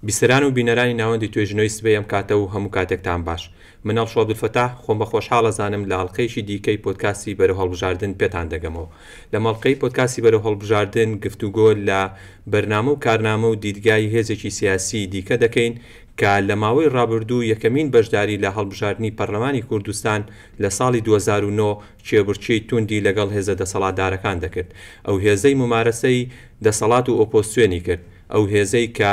بیسەران و بینەرانی ناوەندی توێژینەوەی سبەی ئەم کاتە و هەموو کاتێکتان باش. من ئەڵشۆ عەبدولفەتاح خۆم بە خۆشحاڵ ئەزانم لە ئەڵقەیەکی دیکەی پۆدکاستی بەرەو هەڵبژاردن پێتان دەگەمەوە. لەم ئەڵقەی پۆدکاستی بەرەو هەڵبژاردن گفتوگۆ لە بەرنامە و کارنامە و دیدگای هێزێکی سیاسیی دیکە دەکەین کە لە ماوەی ڕابردوو یەکەمین بەشداری لە هەڵبژاردنی پەرلەمانی کوردستان لە ساڵی دوو هەزار و نۆ کێبڕکێی توندی لەگەڵ هێزە دەسەڵاتدارەکان دەکرد ئەو هێزەی مومارەسەی دەسەڵات و ئۆپۆزسیۆنی کرد ئەو هێزەی کە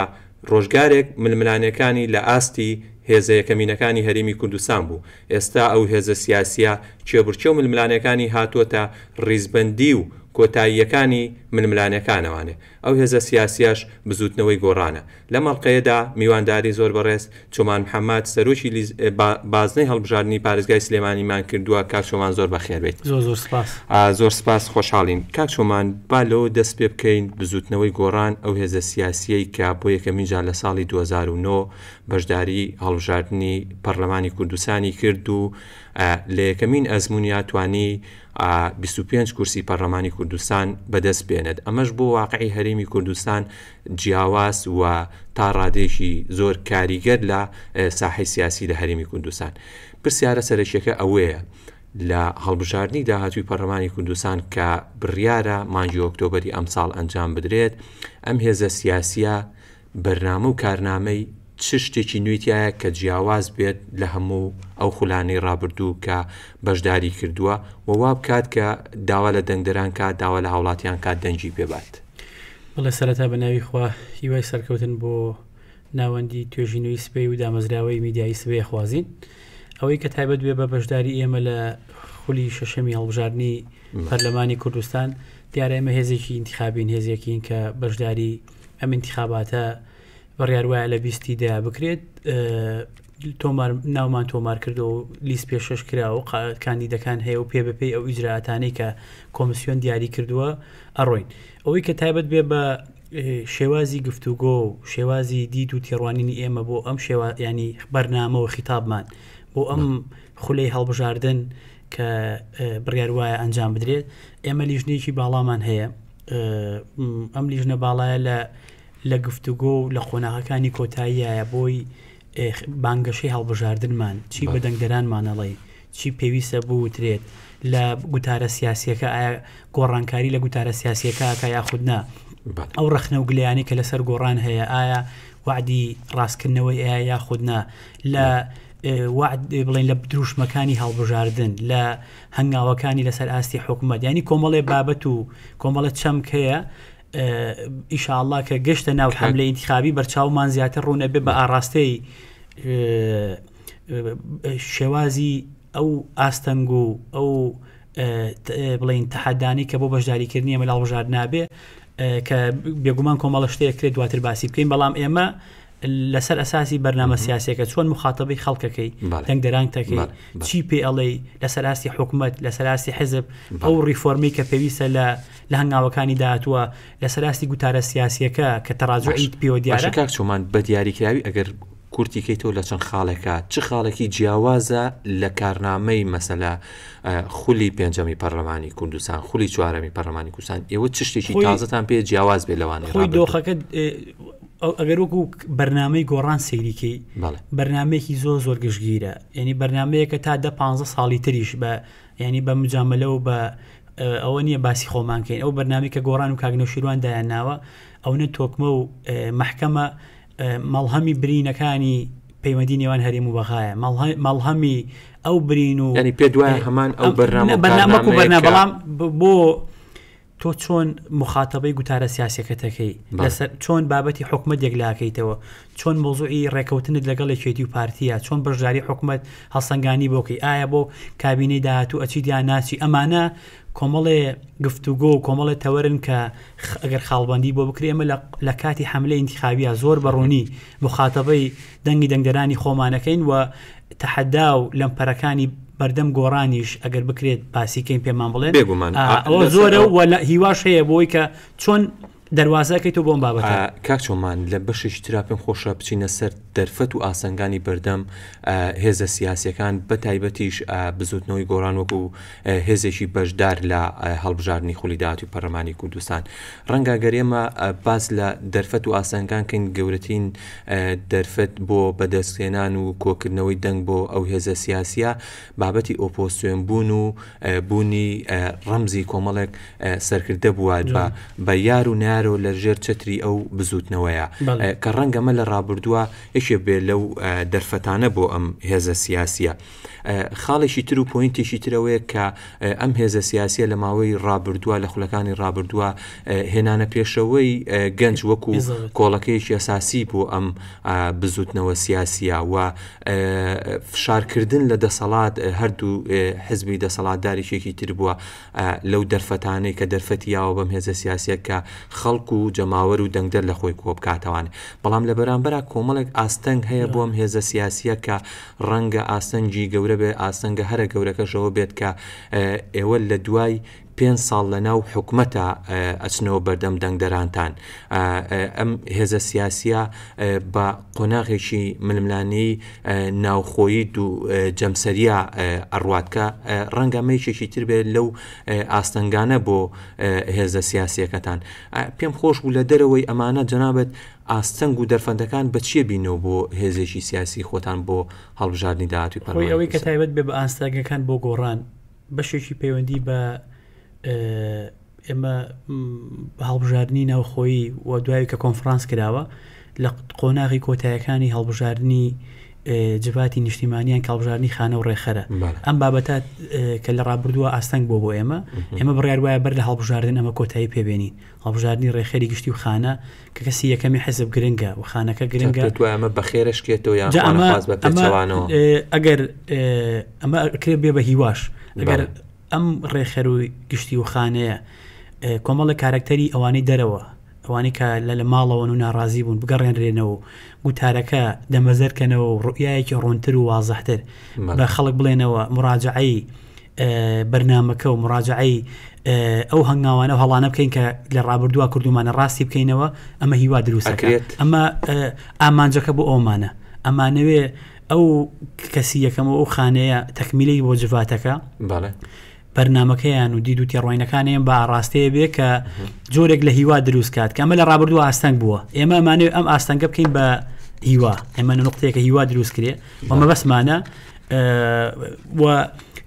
ڕۆژگارێک ململانێکانی لە ئاستی هێزە یەکەمینەکانی هەرێمی کوردستان بوو، ئێستا ئەو هێزە سیاسییە کێبڕکێ و ململانێکانی هاتووەتە ڕیزبەندی و کۆتاییەکانی ململانێکانەوانێ ئەو هێزە سیاسییەش بزووتنەوەی گۆڕانە. لەم ئەڵقەیەدا میوانداری زۆر بەڕێز، چۆمان محەمەد، سەرۆکی لیز بازنەی هەڵبژاردنی پارێزگای سلێمانی مان کردووە، کاک چۆمان زۆر بەخێربێیت. زۆر زۆر سپاس. زۆر سپاس خۆشحاڵین. کاک چۆمان با لەوە دەست پێ بکەین، بزووتنەوەی گۆڕان ئەو هێزە سیاسییەی کە بۆ یەکەمین جار لە ساڵی دوو هەزار و نۆ بەشداری هەڵبژاردنی پەڕلەمانی کوردستانی کرد و لە یەکەمین ئەزموونیا توانی بیست و پێنج کورسی پەڕلەمانی کوردستان بە دەست بێنێت ئەمەش بۆ واقعی هەرێمی کوردستان جیاواز و تا ڕادەیەکی زۆر کاریگەر لە ساحەی سیاسی لە هەرێمی کوردستان. پرسیارە سەرەکیەکە ئەوەیە لە هەڵبژاردنی داهاتووی پەرلەمانی کوردستان کە بڕیارە مانگی ئۆکتۆبەری ئەمساڵ ئەنجام بدرێت، ئەم هێزە سیاسیە بەرنامە و کارنامەی چ شتێکی نوێی تیایە کە جیاواز بێت لە هەموو ئەو خولانەی ڕابردوو کە بەشداری کردووە و وا بکات کە داوا لە دەنگدەران کات، داوا لە هاوڵاتیان کات دەنگی پێ بات؟ بەڵێ سەرەتا بە ناوی خوا هیوای سەرکەوتن بۆ ناوەندی توێژینەوەی سبەی و دامەزراوەی میدیایی سبەی ئەخوازین. ئەوەی کە تایبەت بێ بە بەشداری ئێمە لە خولی شەشەمی هەڵبژاردنی پەرلەمانی کوردستان دیارە ئێمە هێزێکی ئینتیخابین هێزێکین کە بەشداری ئەم ئینتیخاباتە بڕیار وایە لە بیست ی دەیە بکرێت تۆمار ناومان تۆمار کردو و لیست پێشش کرا و کاندیدەکان هەیە و پێ بەپی ئەو ئیجراتانەی کە کۆمسیۆن دیاری کردووە ئەڕۆین ئەوەی کە تایبەت بێ بە شێوازی گفتوگۆ و شێوازی دیت و تێڕوانینی ئێمە بۆ ئەم شێوا ینی بەرنامە و خیتابمان بۆ ئەم خولەی هەڵبژاردن کە بڕیار وایە ئەنجام بدرێت ئێمە لیژنێکی باڵامان هەیە ئەم لیژنە باڵایە لە لە گفتوگۆ و لە قۆناغەکانی کۆتاییایە بۆی بانگەشەی هەڵبژاردنمان، چی بە دەنگدەرانمان ئەڵێی، چی پێویستە بوترێت لە گوتارە سیاسییەکە، ئایا گۆڕانکاری لە گوتارە سیاسییەکە ئەکا یاخود نا، ئەو ڕەخنە و گلەیانەی کە لەسەر گۆڕان هەیە ئایا وەعدی ڕاستکردنەوەی ئەیا یاخود نا، لە وەعد بڵێن لە دروشمەکانی هەڵبژاردن، لە هەنگاوەکانی لەسەر ئاستی حکومەت، یانی کۆمەڵێ بابەت و کۆمەڵە چەمک هەیە، ئیشاڵا کە گەشتە ناو حملە ئینتخابی بەرچاومان زیاتر ڕوونە بێ بە ئاراستەی شێوازی ئەو ئاستەنگ و ئەو بڵین تەحەدانی کە بۆ بەشداریکردنی ئەمە لاڵژار نابێ کە بێگومان کۆمەڵە شتەیەکرێت دواتر باسی بکەین بەڵام ئێمە لەسەر ئەساسی بەرنامە سیاسەکە چۆن مخاتبی خەڵکەکەی دەنگدەرانتەکەی چی پێ ئەڵێ لەسەر ئاستی حکوومەت لەسەر ئاستی حزب ئەو ڕیفۆرمی کە پێویستە لە لە هەنگاوەکانی داهاتوە لەسەر ئاستی گوتارە سیاسیەکە کە تەراجعیت پێوە دیارە کاک چۆمان بە دیاریکراوی ئەگەر کورتیکەی تۆ لە چەند خاڵێکە چ خاڵێکی جیاوازە لە کارنامەی مەسەلا خولی پێنجەمی پەرلەمانی کوردستان خولی چوارەمی پەرلەمانی کوردستان ئێوە چ شتێکی تازتان پێ جیاواز بێ لەوان خۆی دۆخەکە ئەگەر وەکو بەرنمەی گۆڕان سەیری کەی بەرنمەیەکی زۆر زۆر گشتگیرە ینی بەرنمەیەکە تا دە پ ساڵی تریش بە ینی بە مجاملە و بە ئەوە نییە باسی خۆمانکەین ئەو بەرنامی کە گۆڕان و کاگنە شیروان دایان ناوە ئەو نە تۆکمە و محکەمە مەڵهەمی برینەکانی پەیوەندی نێوان هەریم و بەغایە مەڵهەمی ئەو برین و ینی پێ دوای هەمان ئەو بەرنامە بەرنامە بەڵام بۆ تۆ چۆن مخاتەبەی گوتارە سیاسیەکەت دەکەی؟ لەسەر چۆن بابەتی حکومەت یەکلاکەیتەوە؟ چۆن مەوزوعی ڕێکەوتنت لەگەڵ یەکێتی و پارتیە؟ چۆن بەشداری حکومەت هەڵسەنگانی بۆ کەی؟ ئایا بۆ کابینەی داهاتوو ئەچیت یان ناچی؟ ئەمانە کۆمەڵێ گفتوگۆ و کۆمەڵێ تەوەرن کە ئەگەر خاڵبەندی بۆ بکرێ ئێمە لە لە کاتی حەملە ئینتیخابیە زۆر بە ڕوونی مخاتەبەی دەنگی دەنگدەرانی خۆمانەکەین و تەحەدا و لەمپەرەکانی بەردەم گۆڕانیش ئەگەر بکرێت باسیکەین پێمان بڵێن بێگومان ئەوە زۆرە و لە هیواش هەیە بۆی کە چۆن دەواازەکەی تۆ بۆم بابەت کاک چۆمان لە بەشێکی تررا پێم خۆشە بچینە سەر دەرفەت و ئاسنگانی بەردەم هێزە سیاسەکان بە تایبەتیش بزوتنەوەی گۆران وەکو هێزێکی بەشدار لە هەڵبژاردنی خولی داهاتووی پەرلەمانی کوردستان. ڕەنگە گەر ئێمە باس لە دەرفەت و ئاستەنگەکان بکەین، گەورەترین دەرفەت بۆ بەدەستهێنان و کۆکردنەوەی دەنگ بۆ ئەو هێزە سیاسییە، بابەتی ئۆپۆزسیۆن بوون و بوونی ڕەمزی کۆمەڵێک سەرکردە بووە بە یار و نەیارەوە لە ژێر چەتری ئەو بزووتنەوەیە، کە ڕەنگە ئەمە لە ڕابردووە یەکێک بێت لەو دەرفەتانە بۆ ئەم هێزە سیاسییە. خاڵێکی تر و پۆینتێکی تر ئەوەیە کە ئەم هێزە سیاسیە لە ماوەی ڕابردووە لە خولەکانی ڕابردووە هێنانە پێشەوەی گەنج وەکو کۆڵەکەیەکی ئەساسی بۆ ئەم بزوتنەوە سیاسیە و فشارکردن لە دەسەڵات هەردوو حزبی دەسەڵاتدارێکێکی تر بووە لەو دەرفەتانەی کە دەرفەتی یاوە بەم هێزە سیاسە کە خەڵک و جەماوەر و دەنگدەر لە خۆی کۆبکاتەوان بەڵام لە بەرامبەر کۆمەڵێک ئاستەنگ هەیە بۆم هێزە سیاسیە کە ڕەنگە ئاستەنگی گەورە بێت، ئاستەنگە هەرە گەورەکەش ئەوە بێت کە ئێوە لە دوای پێنج ساڵ لە ناو حکومەتە ئەچنەوە بەردەم دەنگدەرانتان ئەم هێزە سیاسیە بە قۆناغێکی ململانەی ناوخۆیی دوو جەمسەریا ئەڕوات کە ڕەنگە مەیشێکی تر بێت لەو ئاستەنگانە بۆ هێزە سیاسیەکەتان پێم خۆش بوو لە دەرەوەی ئەمانە جەنابەت ئاستەنگ و دەرفەندەکان بە چیە بینەوە بۆ هێزێکی سیاسی خۆتان بۆ هەڵبژاردنی داهاتووی پەرلەمانی کوردستان؟ خۆی ئەوەی کە تایبەت بێ بە ئاستەنگەکان بۆ گۆڕان بەشێکی پەیوەندی بە ئێمە بە هەڵبژاردنی ناوخۆیی و دوای کە کۆنفرانس کراوە لە قۆناغی کۆتایەکانی هەڵبژاردنی جڤاتی نیشتیمانیان کاڵبژارنی خانە و ڕێخەرە ئەم بابەتە کە لە ڕابردووە ئاستەنگ بۆ بۆ ئێمە ئێمە بڕیار وایە بەر لە هەڵبژاردن ئەمە کۆتایی پێبێنین هەڵبژاردنی ڕێکخەری گشتی و خانە کە کەسی یەکەمی حزب گرنگە و خانەکە گرنگە ئەمە بەخێرەشکێتەوە یان خواز بە پێچەوانەوە ئەگەر ئەمە کرێ بێ بە هیواش ئەگەر ئەم ڕێخەر و گشتی و خانەیە کۆمەڵە کارکتەری ئەوانەی دەرەوە ئەوانی کە لە لە ماڵەوەن و ناڕازی بوون بگەڕێنرێنەوە گوتارەکە دەمەزەرکەنەوە ڕوئایەکی ڕۆنتر و وازەحتر بە خەڵک بڵێنەوە مراجعایی بەرنامەکە و مڕاجەعەی ئەو هەنگاوانە و هەڵانە بکەین کە لە ڕابردووە کردومانە ڕاستی بکەینەوە ئەمە هیوا دروستەکرێت ئەمە ئامانجەکە بۆ ئەومانە ئەمانەوێ ئەو کەسی یەکەمە ئەو خانەیە تەکمیلی بۆ جڤاتەکە بەڵێ بەرنمەکەیان و دید و تێڕۆینەکانیان بە ئاڕاستەیە بێ کە جۆرێک لە هیوا دروست کات کە ئەمە لە ڕابردوو ئاستەنگ بووە ئێمە مانێ ئەم ئاستەنگە بکەین بە هیوا ئێمە نقطەیەکە هیوا دروست کرێ ومە بەسمانە و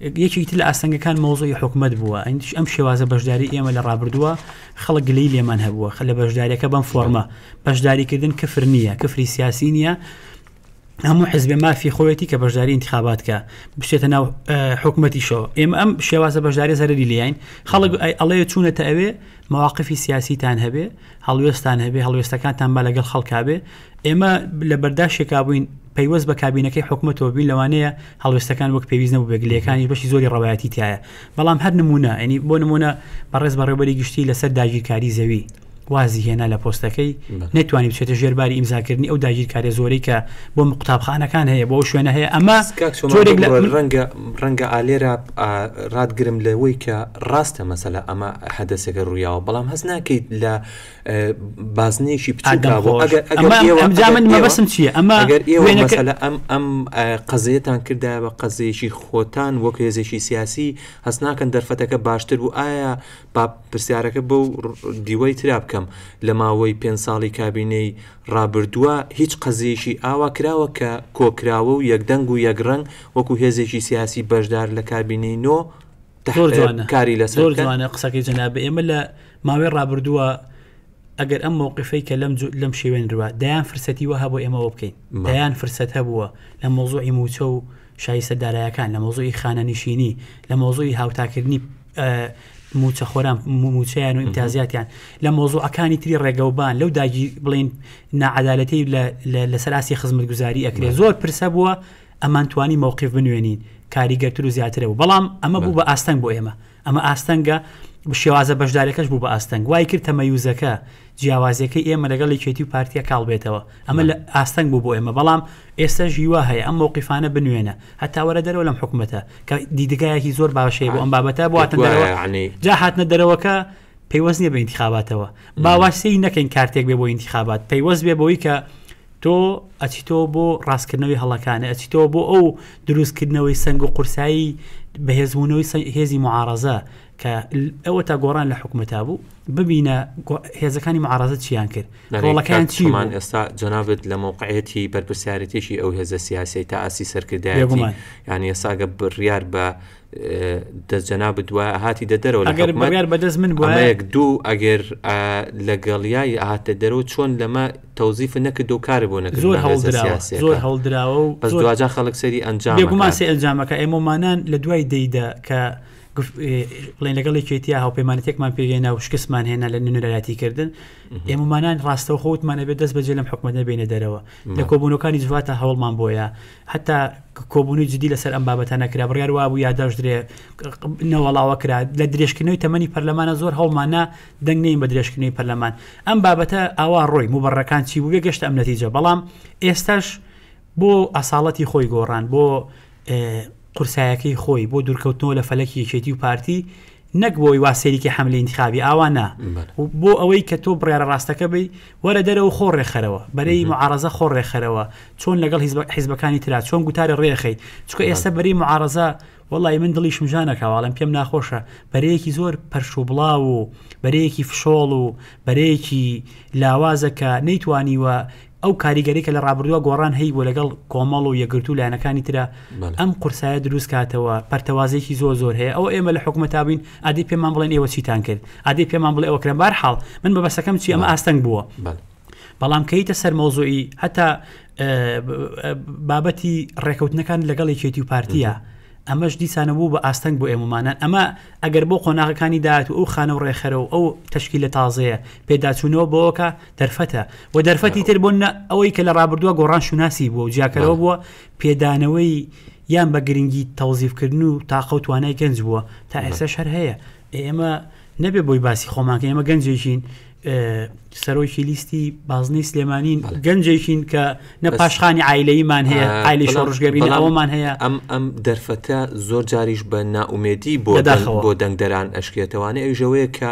یەکێکی تر لە ئاستەنگەکان مەوزوعی حکومت بووە ئەندیش ئەم شێوازە بەشداری ئێمە لە ڕابردووە خەڵک گلەی لێمان هەبووە خە لە بەشداریەکە بەم فۆرمە بەشداریکردن کفر نییە کفری سیاسی نییە هەموو حزبێ مافی خۆیەتی کە بەشداری انتخابات کە بچێتە ناو حکوومەتیشەوە ئێمە ئەم شێوازە بەشداری زەرری لیین خەڵک ئەڵێ چوونەتە ئەوێ مواقفی سیاسیتان هەبێ هەڵوێستان هەبێ هەڵوێستەکانتان بە لەگەڵ خەڵکبێ ئێمە لە بەرداشێکا بووین پەیوەست بە کابینەکەی حکوومەتەوە بین لەوانەیە هەڵوێستەکان وەک پێویست نەبوو بێگلەکانی بەشی زۆری ڕەوایەتی تایە بەڵام هەر نمونە ئەنی بۆ نمونە بەڕێز بەڕێبەری گشتی لەسەر داگیرکاری زەوی وازی هێنا لە پۆستەکەی نتوانانی بچێتە ژێرباری ئیمزاکردنی ئەو داگیرکارە زۆری کە بۆ قوتابخانەکان هەیە بۆ شوێنە هەیە ئەمە ڕەنگە ڕەنگە ئالێرا ڕاتگرم لەوەی کە ڕاستە مەسەلا ئەمە حەدەسێکە ڕوویاوە بەڵام هەست ناکەیت لە بازنەیەکی بچووکە بۆ ئەگەر ئەگەر من مەبەسم چییە ئەمە ئەگەر ئێوە مەسەلە ئەم ئەم قەزێتان کردا بە قەزێکی خۆتان وەک هێزێکی سیاسی هەست ناکەن دەرفەتەکە باشتر بوو ئایا با پرسیارەکە بەو دیوەی ترا بکەم لە ماوەی پێ ساڵی کابینەی ڕابردووە هیچ قەزێکی ئاوا کراوە کە کۆکراوە و یەکدەنگ و یەکڕنگ وەکو هێزێکی سیاسی بەشدار لە کابینەی نۆ زۆر جوانە کاری لە زۆر جوانە قسەکەی جەناب ئێمە لە ماوەی ڕابردووە ئەگەر ئەم مووقفەی کە لەم لەم شێوێن روە دەیان فرسەتی وەها بۆ ئێمەەوە بکەین دەیان فرسەت هەبووە لە مۆزۆی موچە و شایسە دارایەکان لە مۆزۆی خانە نشینی لە مۆزۆی هاوتاکردنی موچە خۆران موچیان و ئیمتازیاتیان لە مۆزۆەکانی تری ڕێگەوبان لەو داگی بڵین نعادالەتی لە سەراسی خزمەت گوزاری ئەکرێ زۆر پرسە بووە ئەمان توانی مەوقیف بنوێنین کاریگەرتر و زیاترە بوو بەڵام ئەمە بوو بە ئاستەنگ بۆ ئێمە ئەمە ئاستەنگە شێوازە بەشدارەکەش بوو بە ئاستەنگ وای کرد تەمەیوزەکە جیاوازەکە ئێمە لەگەڵ یەکێتی و پارتیا کاڵ بێتەوە ئەمە لە ئاستەنگ بوو بۆ ئێمە بەڵام ئێستا ژیوا هەیە ئەم مووقیفانە بنوێنە هەتا وەرە دەرەوە لەم حکوومەتە کە دیدگایەکی زۆر باشەیە بۆ ئەم بابەتە بۆ جا هاتنە دەرەوەکە پەیوەست نیە بە انتخاباتەوە باواسی نەکەین کارتێک بێ بۆ انتخابات پەیوەست بێ بۆی کە تۆ ئەچیتەوە بۆ ڕاستکردنەوەی هەڵەکانت، ئەچیتەوە بۆ ئەو دروستکردنەوەی سەنگ و قورسایی بەهێزبوونەوەی سەنگ هێزی معارەزە کە ئەوە تا گۆڕان لە حکومەتا بوو ببینە هێزەکانی معارەزە چیان کرد ڕۆڵەکان چیمان ئێستا جەنابێت لە مووقعەتی بەرپرسیارەتێکی ئەو هێزە سیاسی تا ئاسی سەرکردایەتی یعنی ئێساگە بڕیار بە دەست جەنابت وە هاتی دە دەرەوە لە حکومەت بەدەست من بۆەک دوو ئەگەر لەگەڵیایی هاتە دەرەوە چۆن لەمە تەوزیف نەکرد و کار بۆ نەکە زۆر هەڵدراوە زۆر هەڵدراوە و بەس دواجا خەڵک سەری ئەنجام گوماسی ئەنجامەکە ئێمەمانان لە دوای دەیدا کە بڵێن لەگەڵی کێتیا هاوپەیمانەتێکمان پێێنا و شکستمان هێنا لە نوێنەرایەتی کردن ئێمەمانان ڕاستەوخۆوتمانە بێت دەست بەجێ لەم حکومەت نەبێنە دەرەوە لە کۆبوونەکانی جواتە هەوڵمان بۆیە هەتا کۆبوونەوەی جدی لەسەر ئەم بابەتە نەکرا بڕیار وابوو یاداشت درێ نەوەڵاوە کرا لە درێژکردنەوەی تەمەنی پەرلەمانە زۆر هەڵمانە دەنگ نین بە درێژکردنەوەی پەرلەمان ئەم بابەتە ئاوا ڕۆی مبڕەکان چی بوو بێگەشت ئەم نەتیجە بەڵام ئێستاش بۆ ئەساڵەتی خۆی گۆڕان بۆ قورسایەکەی خۆی بۆ دوورکەوتنەوە لە فەلەکی یەکێتی و پارتی نەک بۆی وا سەیریکی حەملی انتخابی ئاوا نا و بۆ ئەوەی کە تۆ بڕیارە ڕاستەکە بی وەرە دەرەوە خۆ ڕێکخەرەوە بەرەی معارەزە خۆ ڕێکخەرەوە چۆن لەگەڵ حیزبەکانی تررا چۆن گوتارە ڕێخەی چکە ئێستا بەری معارەزە وڵی من دڵی شمژانەکەواڵم پێم ناخۆشە بەرەیەکی زۆر پەرش و بڵاو و بەرەیەکی فشۆڵ و بەرەیەکی لاوازەکە نەیتوانیوە ئەو کاریگەری کە لە ڕابردووە گۆڕان هەی بۆ لەگەڵ کۆمەڵ و یەکگرتوو لایەنەکانی ترا ئەم قورسایە دروست کاتەوە پەرتەوازێکی زۆر زۆر هەیە ئەو ئێمە لە حکومە تابین ئادی پێمان بڵێن ئێوە چیتان کرد ئادی پێمان بڵێ ئەوکرێن بار حاڵ من بە بەسەکەم چی ئەمە ئاستەنگ بووە بەڵام کەیتە سەر مەوزۆی هەتا بابەتی ڕێکەوتنەکان لەگەڵ یەکێتی و پارتیە ئەمەش دیسانە بوو بە ئاستەنگ بۆ ئێمەمانە ئەمە ئەگەر بۆ قۆناغەکانی داات و ئەو خانە و ڕێخەرە و ئەو تشکی لە تازەیە پێداچوونەوە بۆکە دەرفەتە و دەرفەتی تر بۆ نە ئەوەی کە لە ڕابردووە گۆڕان شوناسی بووە و جیاکەرەوە بووە پێدانەوەی یان بە گرنگی تەوزیفکردن و تاقە و توانای گەنج بووە تا ئێستا شەر هەیە ئێمە نەبێ بۆی باسی خۆمانکە ئێمە گەنجێکین سەرۆکی لیستی بازنەی سلێمانین گەنجێکین کە نە پاشخانی ئایلەیمان هەیە ئایلی شۆڕژگەبی ئەومان هەیە ئەم ئەم دەرفەتە زۆر جاریش بە ناومێدی بۆ بۆ دەنگدەران ئەشکێتەوانە ئەوژەوەیە کە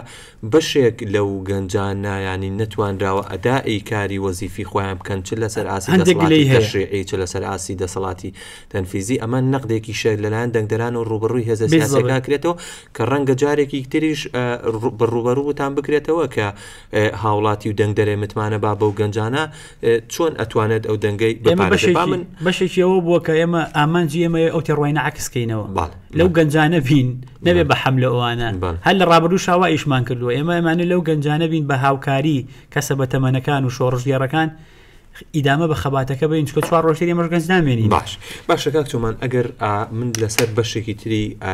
بەشێک لەو گەنجانە یانی نەتوانراوە ئەدائی کاری وەزیفی خۆیان بکەن چ لەسەر ئاستی هەندێک گلەی دەسەڵاتی هەیە. تەشریعی چ لەسەر ئاستی دەسەڵاتی تەنفیزی ئەمە نەقدێکیشە لەلایەن دەنگدەران و ڕووبەڕووی هێزە بێ زەڕێ. سیاسیەکان کرێتەوە کە ڕەنگە جارێکی تریش ئە، ڕوو، بە ڕووبەڕووتان بکرێتەوە کە ئە، هاوڵاتی و دەنگدەرێ متمانە با بەو گەنجانە چۆن ئەتوانێت ئەو دەنگەی بپارێزێت با من بەشێکی ئەوە بووە کە ئێمە ئامانجی ئێمە ئەو تێڕوانینە عەکس کەینەوە باڵ لەو گەنجانە بین نەبێ بە حەملە ئەوانە باڵ. هەر لە ڕابردوو شاوا ئیشمان کردووە ئێمە ئەمانە لەو گەنجانە بین بە هاوکاری کەسە بە تەمەنەکان و شۆڕژگێڕەکان ئیدامە بە خەباتەکە بین چکە چوار ڕۆژتر ئێمەش گەنج نامێنین باش باشە کاک چۆمان ئەگەر ئا من لەسەر بەشێکی تری ئا،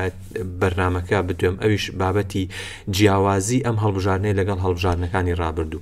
بەرنمەکە بدوێم ئەویش بابەتی جیاوازی ئەم هەڵبژارنەیە لەگەڵ هەڵبژارنەکانی ڕابردوو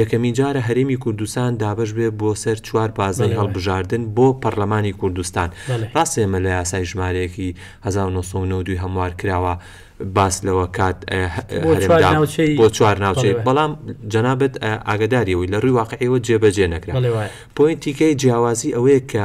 یەکەمین جارە هەرێمی کوردستان دابش بێ بۆ سەر چوار بازنەی هەڵبژاردن بۆ پەرلەمانی کوردستان ڕاستێ مە لە یاسای ژمارەیەکی 1992 هەموار کراوە باس لەوە کات بۆ چوار ناوچەی بەڵام جەنابەت ئاگداریەوەی لە ڕووی واقعەوە جێبەجێ نەکرا پوینتیکەی جیاوازی ئەوەیە کە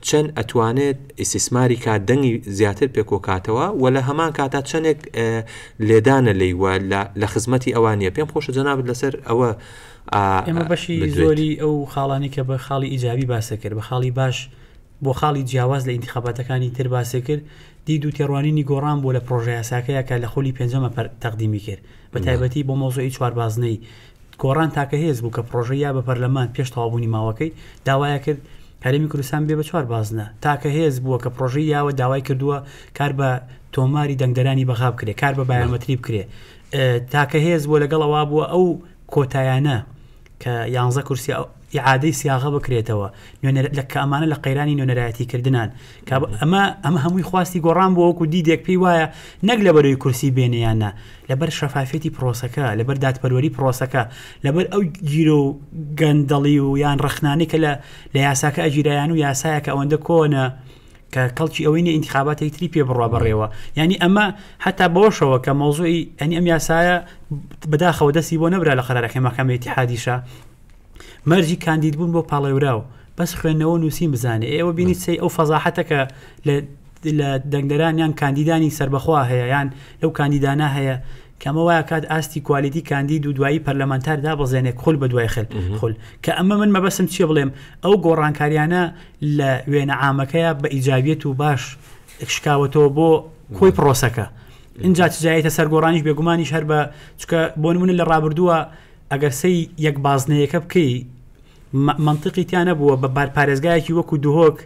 چەند ئەتوانێت ئیستیسماری کات دەنگی زیاتر پێکۆکاتەوە و لە هەمان کاتا چەندێک لێدانە لێی وە لە خزمەتی ئەوان نیە پێم خۆشە جەنابت لەسەر ئەوە ئێمە بەشی زۆری ئەو خاڵانی کە بە خاڵی ئیجابی باسە کرد بە خاڵی باش بۆ خاڵی جیاواز لە ئینتخاباتەکانی تر باسێ کرد دی دوو تێڕوانینی گۆڕان بۆ لە پرۆژه یاساکەیە کە لە خولی پێنجەمە پەر تەقدیمی کرد بە تایبەتی بۆ مۆزۆی چواربازنەی گۆڕان تاکە هێز بوو کە پڕۆژەی یا بە پەرلەمان پێش تەواوبوونی ماوەکەی، داوایە کرد هەرێمی کوردستان ببێ بە چوار بازنە. تاکە هێز بووە کە پڕۆژەی یاوە داوای کردووە کار بە تۆماری دەنگدەرانی بەغا بکرێ، کار بە بایۆمەتری بکرێ. تاکە هێز بووە لەگەڵ ئەوە بووە ئەو کۆتایانە کە یانزە کورسی ئیعادەی سیاغە بکرێتەوە نوێنەر لە کە ئەمانە لە قەیرانی نوێنەرایەتی کردنان کە ئەمە ئەمە هەمووی خواستی گۆڕان بۆ وەکو دیدێک پێی وایە نەک لە بەرەوەی کورسی بێنیانە لەبەر شەفافێتی پرۆسەکە لەبەر دادپەروەری پرۆسەکە لەبەر ئەو گیرۆ و گەندەڵی و یان ڕخنانی کە لە لە یاساکە ئەگیرایان و یاسایەکە ئەوەندە کۆنە کە کەڵکی ئەوەی نە ئینتخاباتی تری پێ بڕوا بڕێەوە ینی ئەمە حتا بەوەشەوە کە مۆزوعی ئەنی ئەم یاسایە بەداخەوە دەستی بۆ نەبرا لە قەرەکەی مەکەمەتی حادیشە مەرجی کاندید بوون بۆ پاڵێوراو بەس خوێندنەوە نووسین بزانێ ئێوە بینی سی ئەو فەزاحەتە کە لە لە دەنگدەران یان کاندیدانی سربەخوا هەیە یان لەو کاندیدانە هەیە کەمە وایە کات ئاستی کوالیتی کاندید و دوایی پەرلەمانتار دابەزێنێک خول بە دوای خل خول کە ئەمە من مەبەسم چیە بڵێم ئەو گۆڕانکاریانە لە وێنە عامەکەیە بە ئیجاویەت و باش شکاوەتەوە بۆ کۆی پرۆسەکە. اینجا چجایەتە سەرگۆڕانیش بێگومانیش هەر بە چکە بۆ منە لە ڕابردووە ئەگەر سەی یەک بازنەیەکە بکەی مە مەنتقی تیا نەبووە بە بار پارێزگایەکی وەکو دهۆک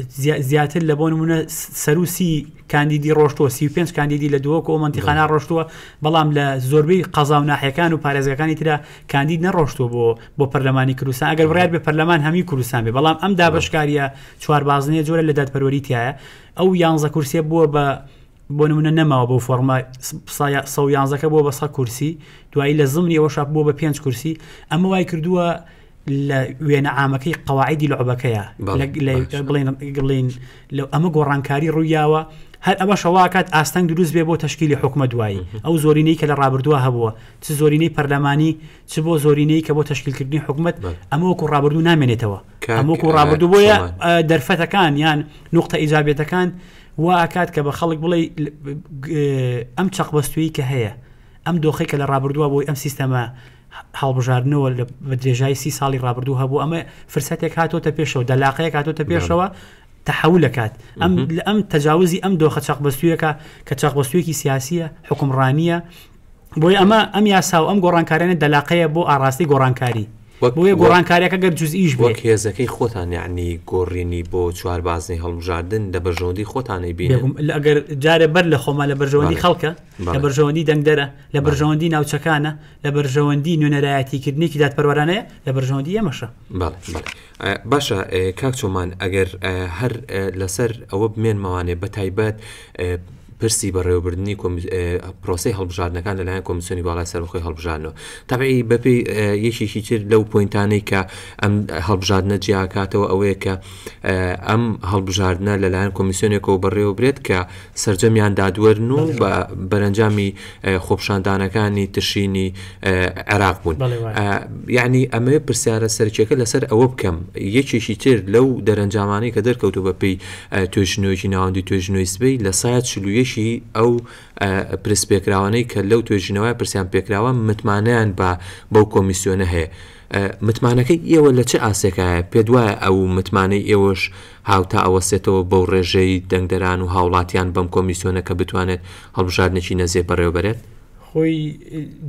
زیا زیاتر لە بۆ نمونە سەرو سی کاندیدی ڕۆشتوە سی و پێنج کاندیدی لە دهۆک و بەڵێ مەنتیقانە ڕۆشتوە بەڵام لە زۆربەی قەزا و ناحیەکان و پارێزگاکانی ترا کاندید نەڕۆشتوە بۆ بۆ پەرلەمانی کوردستان ئەگەر بڕیار بێ پەرلەمان هەموی کوردستان بێ بەڵام ئەم بەڵێ دابەشکاریە چوار بازنەیە جۆرە لە دادپەروەری تایە ئەو یانزە کورسیە بووە بە بۆ نمونە نەماوە بۆ فۆرمە سە و یانزەکە بۆ بەسە کورسی دوایی لە زمنی ئەوە شاپ بۆ بە پێنج کورسی ئەمە وای کردووە لە وێنە ئامەکەی قەواعدی لەعبەکەیە بڵین بڵین لە ئەمە گۆڕانکاری ڕوویاوە هەر ئەمە شەواکات ئاستەنگ دروست بێ بۆ تشکیلی حکومە دوایی ئەو زۆرینەی کە لە ڕابردووە هەبووە چ زۆرینەی پەرلەمانی چ بۆ زۆرینەی کە بۆ تشکیلکردنی حکومت ئەمە وەکو ڕابردوو نامێنێتەوە کەمۆکو ڕابردوو بۆیە دەرفەتەکان یان نقطە ئیجابێتەکان وا ئەکات کە بە خەڵک بڵێی ئەم چەقبەستوویی کە هەیە، ئەم دۆخەی کە لە ڕابردووە بۆی ئەم سیستەمە هەڵبژاردنەوە لە بە درێژای سی ساڵی ڕابردوو هەبوو، ئەمە فرسەتێک هاتۆتە پێشەوە، دەلاقەیەک هاتۆتە پێشەوە تەحول ئەکات. ئەم لە ئەم تەجاوزی ئەم دۆخە چەقبەستوویەکە کە چەقبەستوویەکی سیاسییە، حوکمڕانییە، بۆی ئەمە ئەم یاسا و ئەم گۆڕانکارانە دەلاقەیە بۆ ئاڕاستی گۆڕانکاری بۆیە گۆڕانکاریەکە گەر جزئیش بۆ هێزەکەی خۆتان یعنی گۆڕینی بۆ چوار بازنەی هەڵبژاردن لە بەرژەوەندی خۆتانەی بێنم ئەگەر جارێ بەر لە خۆمان لە بەرژەوەندی خەڵکە لە بەرژەوەندی دەنگدەرە لە بەرژەوەندی ناوچەکانە لە بەرژەوەندی نوێنەرایەتیکردنێکی دادپەروەرانەیە لە بەرژەوەندی ئێمەشە باشە کاک چۆمان ئەگەر هەر لەسەر ئەوە بمێنمەوانێ بە تایبەت پرسی بەڕێوەبردننی پرۆسی هەڵبژاردنەکان لەلایەن کۆمیسیۆنی باڵای سەرخۆی هەڵبژانەوە تابعی بەپی یەکێکی تر لەو پوینتانەی کە ئەم هەڵبژاردنە جیاکاتەوە ئەوەیە کە ئەم هەڵبژاردنە لەلایەن کۆمیسیۆنێکەوە بەڕێوە برێت کە سەرجەمیان دادوەرن و بە بەرەنجامی خۆپشاندانەکانی تشینی عێراق بوون یعنی ئەمە پرسیارە سەرکیەکە لەسەر ئەوە بکەم یەکێکی تر لەو دەرەنجامانەی کە دەرکەوتو بە پێی توێژنەوەی ناوەندی توێژنەوەی سبەی لە سایە چلوویەکی ئەو پرس پێکراوانەی کە لەو توێژینەوە پرسیان پێکراوە متمانیان بە بەو کۆمیسیۆنە هەیە متمانەکەی ئێوە لە چه ئاسێکایە پێ دوایە ئەو متمانەی ئێوەش هاوتا ئەوەستێتەوە بەو ڕێژەی دەنگدەران و هاوڵاتیان بەم کۆمیسیۆنە کە بتوانێت هەڵبژاردنێکی نەزێ بەڕێوەبەرێت. خۆی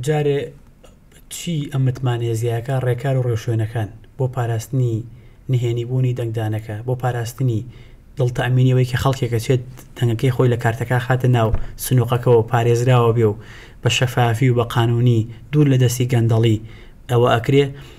جارێ چی ئەم متمانەیە زیایەکە ڕێکار و ڕێوشوێنەکان بۆ پاراستنی نهێنیبوونی دەنگدانەکە، بۆ پاراستنی دڵ تامینی ئەوەی کە خەڵکێک ئەچێت دەنگەکەی خۆی لە کارتەکە خاتە ناو سنوقەکەوە پارێزراوە بێ و بە شەفافی و بە قانونی دوور لە دەستی گەندەڵی ئەوە ئەکرێ،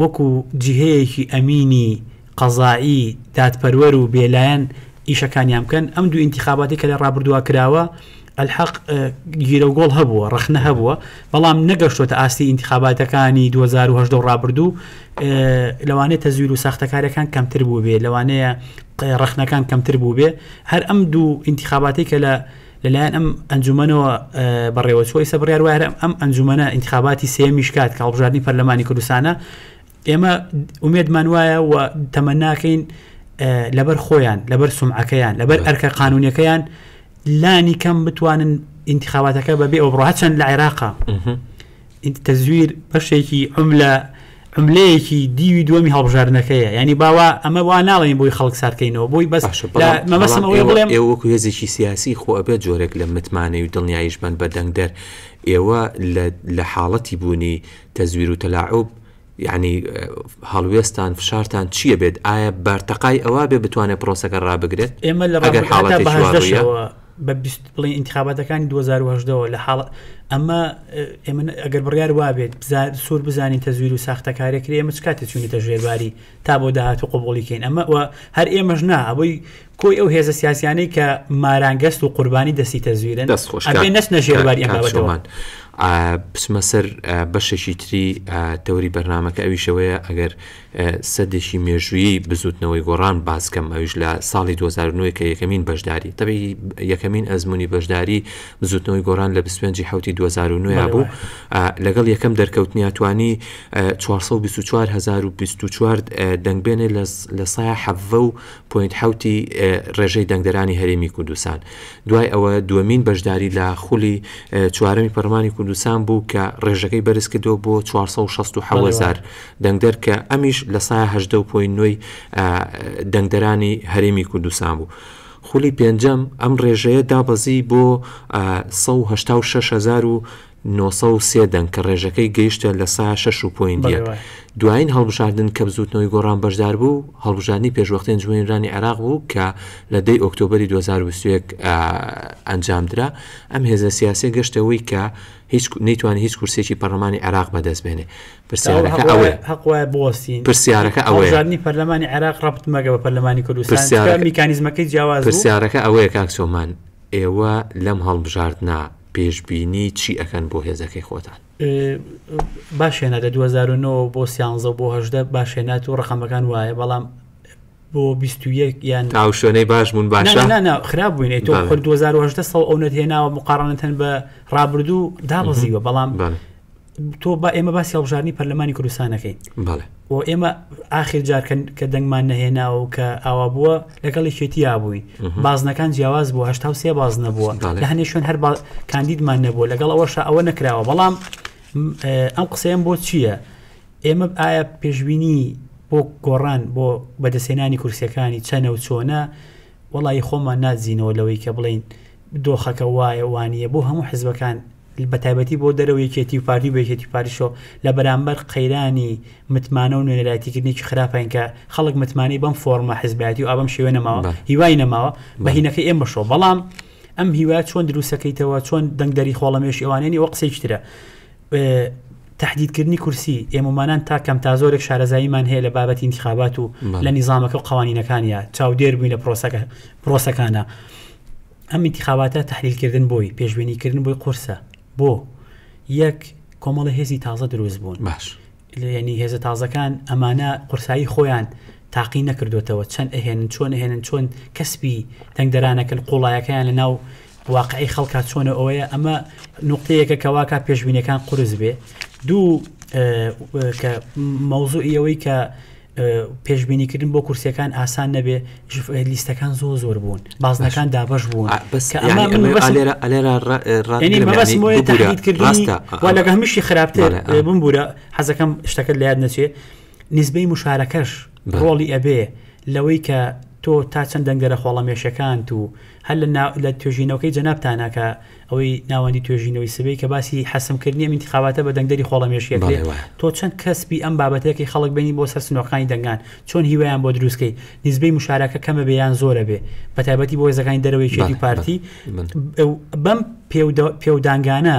وەکو جیهەیەکی ئەمینی قەزایی دادپەروەر و بێلایەن ئیشەکانیان بکەن، ئەم دوو ئینتیخاباتی کە لە ڕابردووا کراوە ئەلحەق گیرەوگۆڵ هەبووە، ڕەخنە هەبووە، بەڵام نەگەشتۆتە ئاستی ئینتیخاباتەکانی دوو هەزار و هەژدە و ڕابردوو، لەوانەیە تەزویر و ساختەکاریەکان کەمتر بووبێ، لەوانەیە ڕەخنەکان کەمتر بووبێ، هەر ئەم دوو ئینتیخاباتی کە لە. لەلایەن ئەم ئەنجومەنەوە بەڕێوەچووە ئیسە بڕیار وایە ئەم ئەنجومەنە انتخاباتی سێمیش کات کە هەڵبژاردنی پەرلەمانی کوردستانە ئێمە ئومێدمان وایە و تەمەناکەین لەبەر خۆیان لەبەر سمعەکەیان لەبەر ئەرکە قانونەکەیان لانی کەم بتوانن انتخاباتەکە بەبێ ئەو بڕە هەچەند لە عێراقا ئیدی تەزویر بەشێکی عوملە عوملەیەکی دیوی دووەمی هەڵبژاردنەکەیە یانی با وا ئەمە وا ناڵێین بۆی خەڵک ساردکەینەوە بۆی بەس باشە بەڵام لە بەڵام مەبەستم ئەوەیە ئێوە بڵێم ئێوە وەکو هێزێکی سیاسی خۆ ئەبێت جۆرێک لە متمانەی و دڵنیاییش بن بە دەنگدەر ئێوە لە لە حاڵەتی بوونی تەزویر و تەلاعوب یەعنی هەڵوێستان فشارتان چییە بێت؟ ئایا بارتەقای ئەوە بێ بتوانێت پرۆسەکە ڕابگرێت؟ ئێمە لە ڕابردوو هەتا بە هەژدە شەوە، ئەگەر حاڵەتێکی وا بووە، بە بیست بڵێین ئینتخاباتەکانی دوو هەزار و هەژدە وە لە حاڵە ئەمە ئێمە ئەگەر بڕیار وا بێت بزا سوور بزانین تەزویر و ساختەکارییە کرێ ئێمە چ کاتێ چووینەتە ژێرباری تا بۆ داهاتوو قبووڵی کەین ئەمە وە هەر ئێمەش نا ئەوەی کۆی ئەو هێزە سیاسیانەی کە مارانگەست و قوربانی دەستی تەزویرن دەست خۆش نەچنە ژێرباری ئەم بابەتەوەمان بچمە سەر بەشێکی تری تەوری بەرنمەکە ئەویشەوەیە ئەگەر سەدێکی مێژوویی بزوتنەوەی گۆڕان باسکەم ئەویش لە ساڵی 2009 کە یەکەمین بەشداری تەبی یەکەمین ئەزمموی بەشداری بزوتنەوەی گۆڕان لە 25 حوتی 2009 بوو لەگەڵ یەکەم دەرکەوتنیاتوانی 424 دەنگبێنێ لە سایە حەڤە و پۆینت حەوت ی ڕێژەی دەنگدەرانی هەرێمی کوردستان دوای ئەوە دووەمین بەشداری لە خولی چوارەمی پەرلەمانی کوردستان بوو کە ڕێژەکەی بەرز کردەوە بۆ 467000 دەنگدەر کە ئەمیش لە سایە 18 پۆین نوێی دەنگدەرانی هەرێمی کوردستان بوو. خولی پێنجەم ئەم ڕێژەیە دابەزی بۆ 166400 نۆ سەد و سێ دەنگ کە ڕێژەکەی گەیشتە لە سا شەش و پۆینت یەک. دوایین هەڵبژاردن کە بزووتنەوەی گۆڕان بەشدار بوو، هەڵبژاردنی پێشوەختەی ئەنجومەنیرانی عێراق بوو کە لە دەی ئۆکتۆبەری دوو هەزار و بیست و یەک ئەنجام درا. ئەم هێزە سیاسیە گەشتە ئەوەی کە نەیتوانی هیچ کورسیەکی پەرلەمانی عێراق بەدەست بێنێ. پرسیارەکە ئەوەیە هەق وایە بوەستین پرسیارەکە ئەوەیە هەڵبژاردنی پەرلەمانی عێراق ڕەبت مەگە بە پەرلەمانی کوردستان؟ چونکە میکانیزمەکەی جیاواز بوو. پرسیارەکە ئەوەیە کاک سۆمان، ئێوە لەم هەڵبژاردنە پێشبینی چی ئەکەن بۆ هێزەکەی خۆتان؟ باش هێنایە دوو هەزار و نۆ بۆ سیانزە و بۆ هەژدە باش هێنایە و ڕقەمەکان وایە بەڵام بۆ بیست و یەک یان تاو شوێنەی باش بوون باشە نانا خراپ بووین تۆ خۆر دوزار و هەژدە سەڵ ئەو نەت هێناوە مقاڕنتەن بە ڕابردوو دابەزیوە بەڵام تۆ با ئێمە باسی هەڵبژارنی پەرلەمانی کوردستان نەکەین و ئێمە ئاخر جارکەن کە دەنگمان نەهێناوە و کە ئاوا بووە لەگەڵی شێتیا بووین بازنەکان جیاواز بوو هشتا سێ باز نەبووە لە هەنێ شوێن هەر کاندیدمان نەبووە لەگەڵ ئەوەشە ئەوە نەکراوە بەڵام ئەم قسەیەم بۆ چییە؟ ئێمە ئایا پێشببینی بۆ گۆڕان بۆ بەدەسێنانی کورسەکانی چەنە و چۆنە وەڵایی خۆمان نادزینەوە لەوەی کە بڵێین دۆخەکە وایە وانیە بۆ هەموو حزبەکان بەتایبەتی بۆ دەرەوە یەکێتی و پارتی و بەیکێتی پاریشۆ لە بەرامبەر قەیرانی متمانە و نوێنەرایتیکردنێکی خراپین کە خەڵک متمانەی بەم فۆرمە حزبایەتی و ئابم شێوێ نەماوە هیوای نەماوە بەهینەکە ئێمەشەوە بەڵام ئەم هیوا چۆن دروستەکەیتەوە چۆن دەنگدەری خۆڵەمێش ئەوانێنی ئەو قسەیشترە تەحدیدکردنی کورسی، ئێمەمانان تا کەم تا زۆرێک شارەزاییمان هەیە لە بابەتی ئینتخابات و لە نیزامەکە و قەوانینەکانیا، چاودێر بووین لە پرۆسەکە پرۆسەکانا. ئەم ئینتخاباتە تەحلیلکردن بۆی، پێشبینیکردن بۆی قورسە. بۆ؟ یەک، کۆمەڵە هێزی تازە دروست بوون. باش. یەنی هێزە تازەکان ئەمانە قورسایی خۆیان تاقی نەکردۆتەوە، چەند ئەهێنن، چۆن ئەهێنن، چۆن کەسبی دەنگدەرانەکەن، قووڵایەکەیان لە ناو واقعی خەڵکا چۆنە و ئەوەیە ئەمە نوقتەیەکە کەواکە پێشبینەکان قرس بێ دوو کە مەوزوعی ئەوەی کە پێشببینیکردن بۆ کورسەکان ئاسان نەبێ لیستەکان زۆ زۆر بوون بازنەکان دابش بوون لەگە هەمیشی خراپتر بمبورە حەزەکەم شتەکە لایەت نەچێ نزبەی مشارەکەش ڕۆڵی ئەبێ لەوەی کە تۆ تا چەند دەنگدەرە خۆڵەمێشەکانت و هەر لە نا لە توێژینەوەکەی جەنابتانە کە ئەوەی ناوەندی توێژینەوەی سبەی کە باسی حەسم کردنی ئەم ئینتیخاباتە بە دەنگدەری خۆڵەمێش یەکێ بەڵێ وایە تۆ چەند کەسبی ئەم بابەتەکەی خەڵک بێنی بۆ سەر سنۆرخانی دەنگان چۆن هیوایان بۆ دروستکەی نیسبەی مشارەکە کەمە بێ یان زۆرە بێ بە تایبەتی بۆ هێزەکانی دەرەوەی کێتی بەڵێ بەڵێ پارتی بەڵێ ئەو بەم پێودا پێودانگانە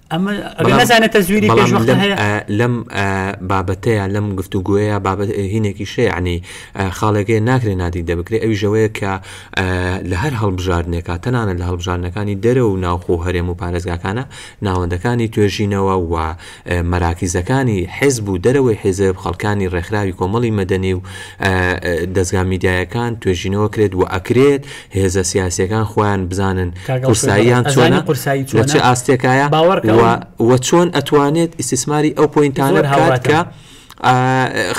لەم بابەتەیە لەم گفتو گوۆیە بابەت هینێکی شەیعنی خاڵێکی ناکرێ نادی دەبکرێ ئەوی ژەوەیە کە لە هەر هەڵبژاردنێکە تەنانە لە هەڵبژاردنەکانی دەرە و ناوخۆ هەرێم و پارێزگاکانە ناوەندەکانی توێژینەوە و مەراکیزەکانی حزب و دەرەوەی حیزب خەڵکانی ڕێکخراوی کۆمەڵی مەدەنی و دەستگا میدیایەکان توێژینەوە کرێت و ئەکرێت هێزە سیاسیەکان خۆیان بزانن قورساییان چۆنە لە چ ئاستێکایە و چۆن ئەتوانێت ئیسیسماری ئەو پوینتانە بکات کە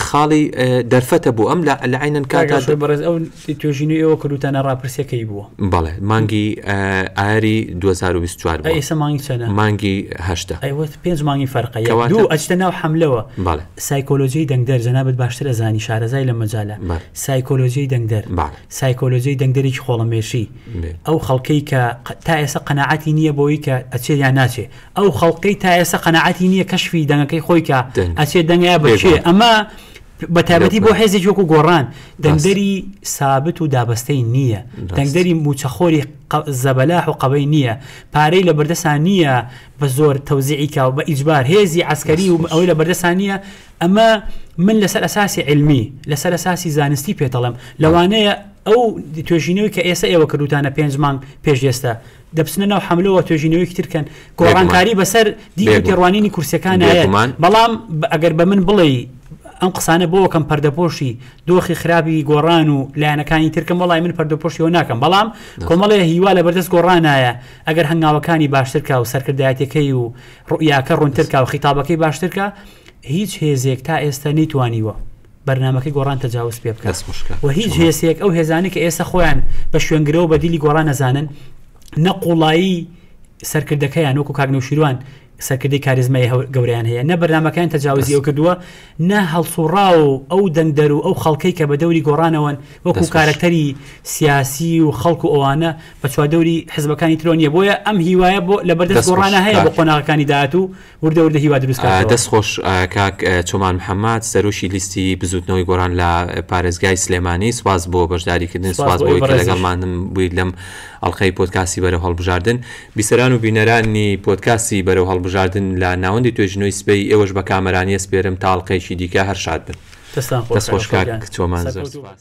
خاڵی دەرفەتە بۆ ئەم لە لەعینەن کاگا بەڕێز ئەو توێژینی ئەوە کردوتانە ڕاپرسەکەی بووە بەڵێ مانگی ئاری 2024 ئێستا مانگی چەنە مانگی هەشتا ئەوەت پێنج مانگی فەرقە دوو ئەچتە ناو حملەوە سایکۆلۆژی دەنگدەر جەنابەت باشترە زانی شارەزای لە مەجالە سایکۆلۆژی دەنگدەر سایکۆلۆجیای دەنگدەرێکی خۆڵەمێشی، ئەو خەڵکەی کە تا ئێستا قەناعەتی نییە بۆی کە ئەچێ یان ناچێ، ئەو خەڵکەی تا ئێستا قەناعەتی نییە کەشفی دەنگەکەی خۆی کە ئەچێ دەنگە بە کێ، ئەمە بە تایبەتی بۆ حێزێکی وەکو گۆڕان دەنگدەری سابت و دابەستەی نییە، دەنگدەری مووچەخۆری زەبەلاح و قەبەی نییە، پارەی لە بەردەسا نییە بە زۆر تەوزیعی کا و بە ئیجبار هێزی عەسکەری و ئەوەی لە بەردەسا نییە، ئەمە من لەسەر ئەساسی علمی لەسەر ئەساسی زانستی پێتەڵم لەوانەیە ئەو توێژینەوەی کە ئێستا ئێوە کردوتانە پێنج مانگ پێش ئێستا دەبچنە ناو حملەوە توێژینەوەی ترکەن گۆڕانکاری بەسەر دی تێڕوانینی کورسەکان بەڵام ئەگەر بە من بڵێ ئەم قسانە بۆ کەم پەردەپۆشی دۆخی خراپی گۆڕان و لایەنەکانی ترکەم وڵی من پەردەپۆشیەوە ناکەم بەڵام کۆمەڵێ هیوا لە بەردەست گۆڕانایە ئەگەر هەنگاوەکانی باشترکە و سەرکردایەتەکەی و ڕویاکە ڕوونترکە و خیتابەکەی باشترکە هیچ هێزێک تا ئێستا نەیتوانیوە بەرنامەکەی گۆڕان تەجاوز پێ بکات و هیچ هێزێک ئەو هێزانەی کە ئێستا خۆیان بە شوێنگرەوە بە دیلی گۆڕان نەزانن نە قوڵایی سەرکردەکەیان وەکو کاک نەوشیروان سەرکردی کاریزمای گەوریان هەیە نە بەرنمەکان تەجاوزی ئەو کردووە نە هەڵسوڕا و ئەو دەنگدەر و ئەو خەڵکەی کە بە دەوری گۆڕانەوەن وەکو کارەکتەری سیاسی و خەڵکو ئەوانە بە چواردەوری حزبەکانی ترۆنیە بۆیە ئەم هیوایە بۆ لە بەردەست گۆڕانە هەیە بە قۆناغەکانی داات و وردە وردە هیوا دروست کاتەوە. دەست خۆش کاک چۆمان محمد سەرۆکی لیستی بزوتنەوەی گۆران لە پارێزگای سلێمانی سواز بۆ بەشداریکردن سواز بۆی کە لەگەڵمانم بوویت لەم ئەڵلقەی پۆتکاسی بەرە هەڵبژاردن بیسەران و بینەرانی پۆتکاسی بەرە هەڵبژاردن لە ناوەندی توێژنەوەی سبەی ئێوەش بە کامەرانیە سپێرم تاڵقەیەکی دیکە هەر شاد بن دەست خۆش کاک چۆمان زۆر سپاس.